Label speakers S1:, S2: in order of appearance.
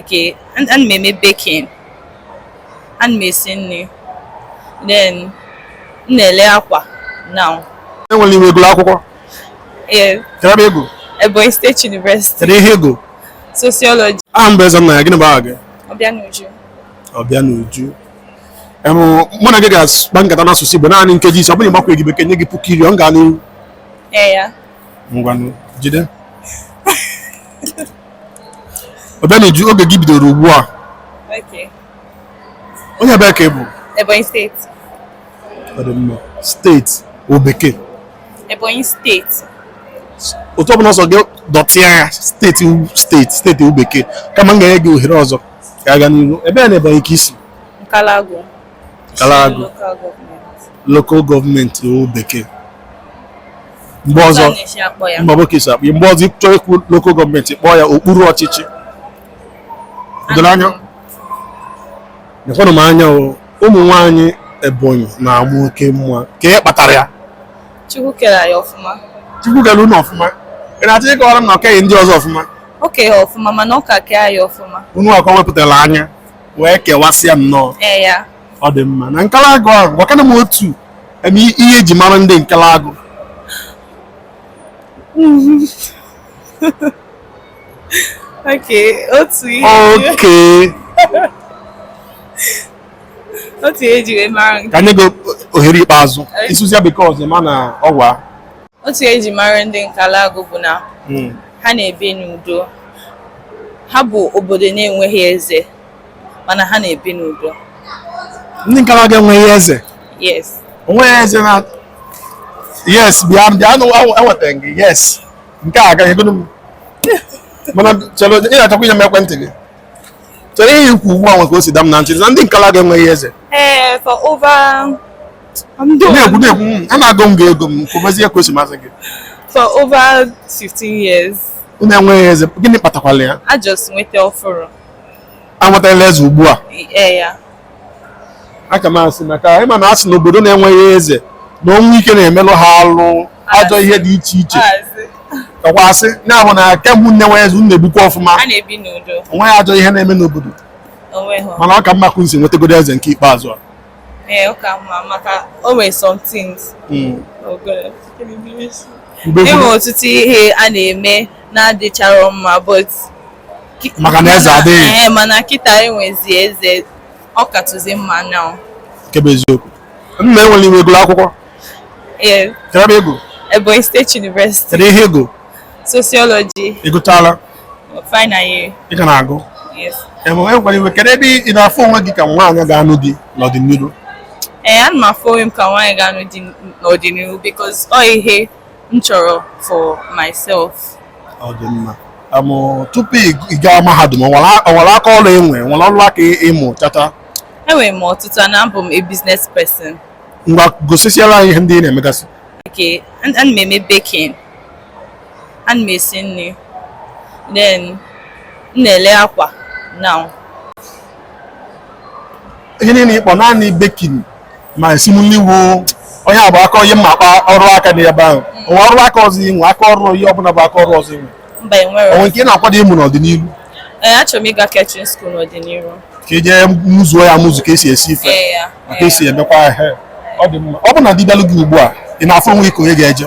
S1: Okay, ana m eme baking. Ana m esi nri. Then m na-ele akwa now. Enwere ebe ị gụrụ
S2: akwụkwọ? Ee.
S1: Kedụ ebe ị
S2: gụrụ? Ebonyi State
S1: University. Kedu ihe ị
S2: gụrụ? Sociology.
S1: Aha m bụ
S2: Ezennaya, gịnị bụ aha gị?
S1: Ọbịanuju.
S2: Ọbịanuju. mụ na gị ga-akpa nkata n'asụsụ Igbo naanị nkeji ise ọ bụrụ ị gbakwaghị bekee nye gị puku iri ọ ga n'ihu
S1: ngwanụ
S2: jide Obianuju oge gị bidoro ugbu a Okay. onye ebe ka ị bụ Ebonyi
S1: State. Ọ dị
S2: mma. steeti ọ bekee
S1: Ebonyi steeti.
S2: otu ọbụla ọ sọ gị dọtịa ya steeti u- steeti steeti ọ bekee kama m ga-enye gị ohere ọzọ ka a gaa n'ihu ebee na Ebonyi ka i si Nkalagu.
S1: Nkalagu
S2: local gọọmenti ọ bekee mgbe ọzọ mba nwe ka e si akpọ mgbe ọzọ ị chọọ ikwu local gọọmenti kpọọ ya okpuru ọchịchị o doro anya nekwanụ m anya ụmụ nwaanyị Ebonyi na-ama oke mma kee ihe kpatara ya Chukwu
S1: kere anyị ọfụma Chukwu kere unu
S2: ọfụma ị na-achọ ịkọwara m na o keghị ndị ọzọ ọfụma o kere ha ọfụma
S1: mana ọ ka kee anyị ọfụma unu ka o wepụtara
S2: anya wee kewasịa nnọọ ee yeah ọ
S1: dị mma
S2: na Nkalagu ahụ gwakene m otu em, i- ihe eji mara ndị Nkalagu
S1: okay otu ihe okay otu ihe eji wee mara nke ka m nye gị
S2: ohere ikpeazụ Okay. ị sụzia bekee ọzọ ma na ọ waa otu ihe
S1: eji mara ndị Nkalagu bụ na hmm. ha na-ebi n'udo ha bụ obodo na-enweghị eze mana ha na-ebi n'udo ndị
S2: Nkalagu enweghị eze yes
S1: onweghị eze na
S2: yes bịa bịanụ enweta gị yes nke a agaghị egodo m mana chere ị na-achọkwa inye m ekwentị gị chere ihe i kwu ugbu a nwe ka o si da m na ntị na ndị Nkalagu enweghị eze ee eh, for
S1: over
S2: na-ekwu na-ekwu mm, anaago m gị ego m kwubezie ka o si masị gị for over
S1: 15 years unu enweghị
S2: eze gịnị kpatakwala ya a just nweta ọfụrụ
S1: anwetala
S2: eze ugbu a ee
S1: yeah
S2: aka m asị maka ị ma na a sị na obodo na-enweghị eze na ọnwụ ike na-emelụ ha alụ ajọ ihe dị iche iche maazị kakwa asị ya bụ na kemgbe unu enweghị eze unu na-ebikwa ọfụma a na-ebi n'udo
S1: onweghị ajọ ihe na-eme
S2: n'obodo onweghị mana ọ ka mma ka unu si nwetagodo eze nke ikpeazụ a ee ọ
S1: ka mma maka o nwere some things Mm. ogolo Mgbe e nwere ọtụtụ ihe a na-eme na-adịcharọ mma but ki- Maka
S2: na eze adịghị. Ee, mana kịta e
S1: nwezi eze ọ katụzi mma now nke bụ
S2: eziokwu nne enwere ebe ị gụrụ akwụkwọ ee kedụ ebe ị gụrụ Ebonyi State
S1: University kedu ihe ị gụrụ
S2: sociology
S1: ị gụchaala ị ka
S2: na-agụ
S1: ewekwala iwe
S2: kedu ebe ị na-afụ onwe gị ka nwaanyị ga-anụ di n'ọdịnihu ee ana m
S1: afụ onwe m ka nwaanyị ga-anụ di n'ọdịnihu because ọ ihe m chọrọ for myself ọ
S2: dị mma tupu ị gaa mahadum o nwere aka ọrụ i nwe nwere ọrụ aka ị mụchata enwere m
S1: ọtụtụ na abụ m a business person ngwa
S2: gosisiela anyị ihe ndị ị na-emegasị okay
S1: ana m eme baking ana m esi nri then m na-ele akwa
S2: now ihe niile ị kpọ naanị baking ma esim nri wu onye abụ aka ihe m ma-akpọ ọrụ aka n'ebe ahụ o nwe ọrụ aka ọzọ i nwe aka ọrụ ihe ọbụla bụ aka ọrụ ọzọ i nwe mba enwero o nwe nke
S1: ị na-akwado
S2: ịmụ n'ọdịnihu ee achọrọ
S1: m ịga catering school n'ọdịnihu ka i jee
S2: mụzuo ya amụzu ka esi esi ife ee ya na ka esi emekwa ihe ọ dị mma ọ bụ na di bịalụ gị ugbu a ị na-afụ onwe gị ka onye ga-eje